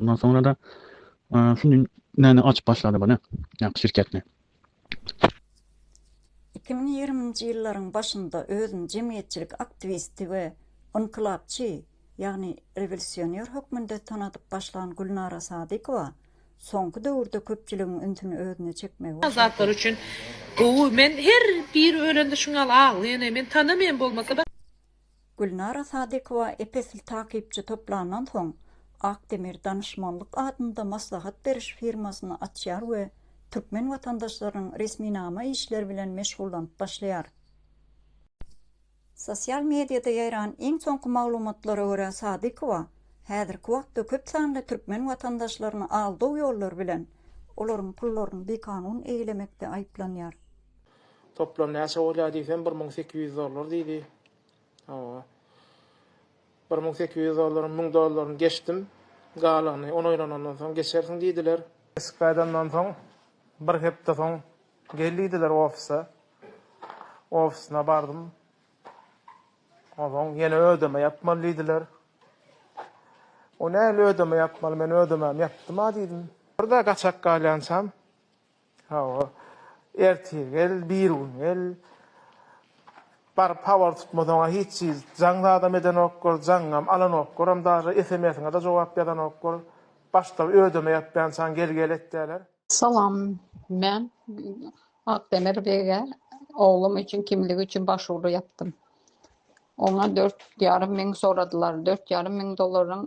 Ondan soňra-da şu gün näme açyp başlady bu ne? Ýa şirketni. Iki müň ýigriminji ýyllaryň başynda özüni jemgyýetçilik aktiwisti we ynkylapçy, ýagny rewolýusioner hökmünde tanadyp başlan Gülnara Sadykowa soňky döwürde köpçüligiň ünsüni özüne çekmegi başardy. Zatlar üçin gowy. Men her biri ölende şuňňal aglaýan eý. Men tanamaýan bolmasa. Gülnara Sadykowa ep-esli takypçy toplandan soň, Ak demir danyşmanlyk adynda maslahat beriş firmasyny açýar we türkmen watandaşlarynyň resminama işleri bilen meşgullanyp başlaýar. Sosial mediada ýaýran iň soňky maglumatlara görä, Sadykowa häzirki wagtda köp sanly türkmen watandaşlaryny aldaw ýollary bilen, olaryň pullaryny bikanun eýlemekde aýyplanýar. Toplam näçe bolýar diýsem, bir müň sekiz ýüz dollar diýdi. Hawa. Bir müň sekiz ýüz dollaryň müň dollaryny geçdim. Galygyny on oýlanandan soň geçersiň diýdiler. Eşik gaýdandan soň, bir hepde soň gel diýdiler ofise. Ofisine bardym. Onsoň ýene ödeme ýapmaly diýdiler. O nähili ödeme ýapmaly, men ödememi ýapdym-a diýdim. Bir-de gaçak galýançam. Hawa. Ertir gel, birigün gel. Baryp habar tutmasaň-a hiç çyz. Jaň zadam edenoklar, jaňňam alanoklarm daže, esemesiňe-de jogap ýazanoklar. Başda ödeme ýapýançaň gel-gel etýäler. Salam. Men Akdemir bege oglum üçin kimlik üçin başwuru ýapdym. Oňa dört ýarym müň soradylar. Dört ýarym müň dollaryň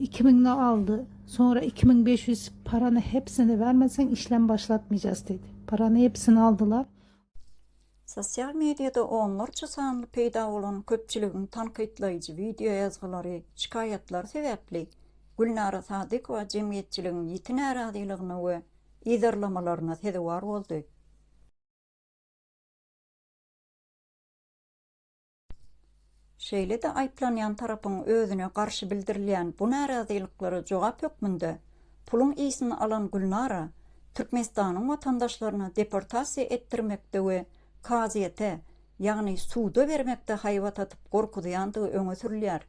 Iki müňni aldy. Soňra iki müň bes ýüz parany hepsini bermeseň işlem başlatmaýjas diýdi. Parany hepsini aldylar. Sosial mediada onlarça sanly peýda bolan köpçüligiň tankytlaýjy wideo ýazgylary, şikaýatlary sebäpli Gülnara Sadykowa jemgyýetçiligiň ýiti närazylygyna we yzarlamalaryna sezewar boldy. Şeýle-de aýyplanýan tarapyň özüne garşy bildirilýän bu närazylyklara jogap hökmünde puluň ysyn alan Gülnara Türkmenistanyň watandaşlaryny deportasiýa etdirmekde we kazyýete, ýagny suda bermekde haýbat atyp gorkuzýandygy öňe sürülýär.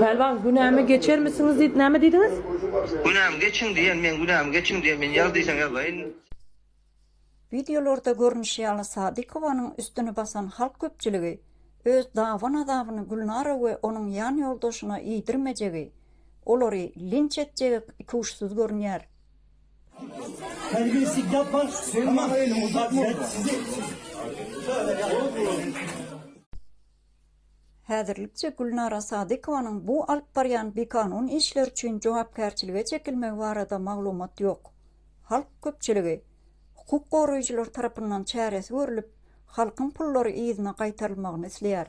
Pälwan günämi geçermisiňiz diýip näme diýdiňiz? Günämi geçiň diýen men günämi geçiň diýen men ýaz diýseň ýazaýyn. Wideolarda görnüşi ýaly Sadykowanyň üstüni basan halk köpçüligi öz dawan-azabyny Gülnara we onuň ýan ýoldaşyna iýdirmejegi, olary linç etjegi ikuçsyz görünýär. Häzirlikçe Gülnara Sadykowanyň bu alyp barýan bikanun işleri üçin jogapkärçilige çekilmegi barada maglumat ýok. Halk köpçüligi, hukuk goraýjylar tarapyndan çäresi görlüp, halkyň pullary yzyna gaýtarylmagyny isleýär.